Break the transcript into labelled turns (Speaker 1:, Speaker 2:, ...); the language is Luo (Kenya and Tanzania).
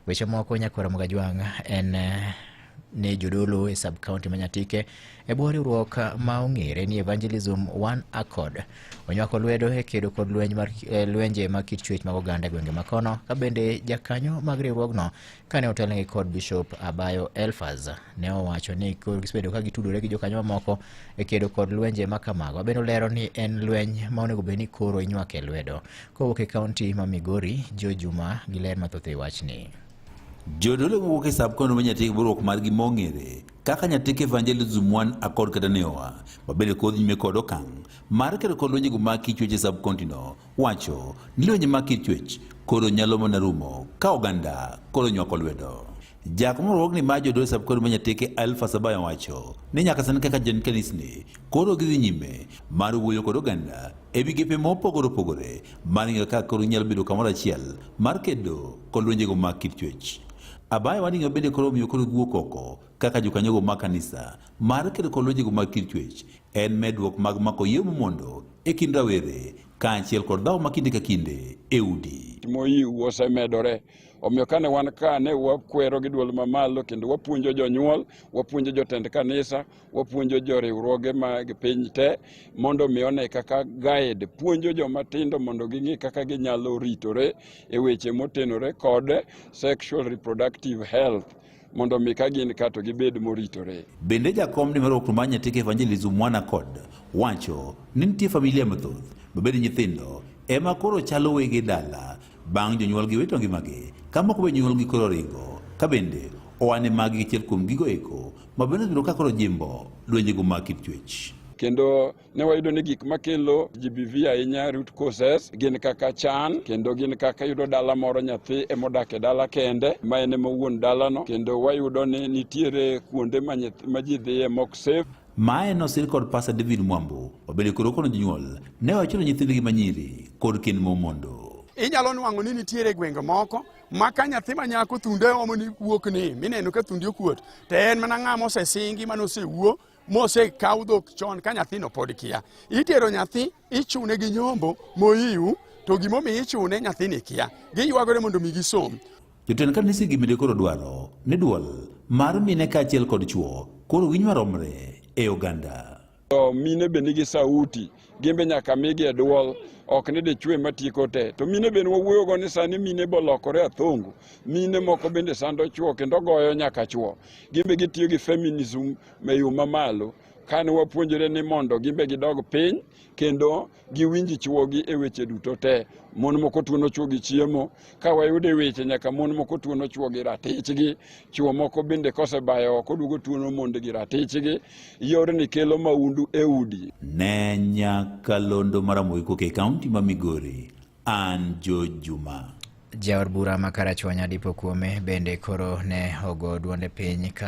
Speaker 1: Weche moko Nyakwaro Mugajwang' en eh, ne jodolo e sub county ma Nyatike e bwo riwruok ma ong'ere ni Evangelism One Accord onywako lwedo e kedo kod lweny mar eh, lwenje mag kit chuech mag oganda e gwenge makono ka bende jakanyo mag riwruogno kane otelnegi kod Bishop Abayo Elfaz ne owacho ni koro gisebedo ka gitudore gi jokanyo mamoko e kedo kod lwenje ma kamago bende olero ni en lweny ma onego bed ni koro inywake lwedo Kowuok e kaunti ma Migori, Jo Juma gi ler mathoth e wachni. Jodolo
Speaker 2: wuok e sub kono ma nyatik burok mar gi mong'ere kaka nyatik evangelism one akod kata neoa mabende kod nyime kod okang' mar kero kod lwenje go ma kichwech e sub county no wacho ni lwenje ma kichwech koro nyalo mana rumo ka oganda koro nywako lwedo. Jack moluong ni ma jodosab kod manyateke Alfa Sabaya wacho ni nyaka sani kaka jotend kanisni koro gidhi nyime mar wuoyo kod oganda e migepe mopogore opogore mar ng'eyo kaka koro nyalo bedo kamoro achiel mar kedo kod lwenjego mag kit chuech. Abaya wading'eyo bende koro omiyo koro giwuok oko kaka jokanyogo mag kanisa mar kedo kod lwenjego mag kit chuech en medruok mag mako yie momondo e kind rawere kaachiel kod dhawo ma kinde ka kinde e udi. Moyiu osemedore
Speaker 3: Omiyo kane wan ka ne wakwero gi dwol mamalo kendo wapuonjo jonyuol, wapuonjo jotend kanisa, wapuonjo joriwruoge mag piny te mondo mi one kaka guide puonjo joma tindo mondo ging'e kaka ginyalo ritore e weche motenore kod sexual reproductive health. mondo mi ka gin ka to gibed moritore. Bende jakom ni
Speaker 2: mar Okruma Nyatike Evangelism Mwana kod wacho ni nitie familia mathoth mabende nyithindo ema koro chalo wege dala bang' jonyuolgi wito ngimagi ka moko be nyuolgi koro ringo ka bende owane magi achiel kuom gigo eko ma bende biro ka koro jimbo dwenjego mag kit chuech. Kendo ne
Speaker 3: wayudo ni gik makelo GBV ahinya root causes gin kaka chan kendo gin kaka yudo dala moro nyathi emodak e dala kende ma en ema wuon dalano kendo wayudo ni nitiere kuonde ma ji dhiye mok safe Mae nosir kod
Speaker 2: Pasa David Mwambo obende koro kono jonyuol ne wachuno nyithindgi manyiri kod kend momondo. Inyalo nwang'o ni
Speaker 4: nitiere gwenge moko ma ka nyathi ma nyako thunde omo ni wuok ni mineno ka thundi okuot to en mana ng'ama osesingi mane osewuo mosekaw dhok chon ka nyathino pod kia. Itero nyathi ichune gi nyombo moyiw to gimomiyo ichune nyathini kia. Giywagore mondo mi gisom. Jotend kanise
Speaker 2: gi mine koro dwaro ni duol mar mine kaachiel kod chwo koro winj maromre e oganda. To mine be
Speaker 3: nigi sauti. gimbe nyaka migi e dwol ok ni dichwe matieko te to mine bende wawuoyogo ni sani mine bolokore athongo mine moko bende sando chwo kendo goyo nyaka chwo gimbe gitiyo gi feminism e yo mamalo kane wapuonjore ni mondo gimbe gidog piny kendo giwinji chwogi e weche duto te mon moko tuono chwogi chiemo ka wayude weche nyaka mon moko tuono chwo gi ratichgi chwo moko bende kosebayo oko duogo tuono mond gi ratichgi yorni kelo maundu e udi ne
Speaker 2: nyakalondo maramogi kok e kaunti ma migori an jo juma jaod bura
Speaker 1: ma karachuonyo adipo kuome bende koro ne ogo duonde piny ka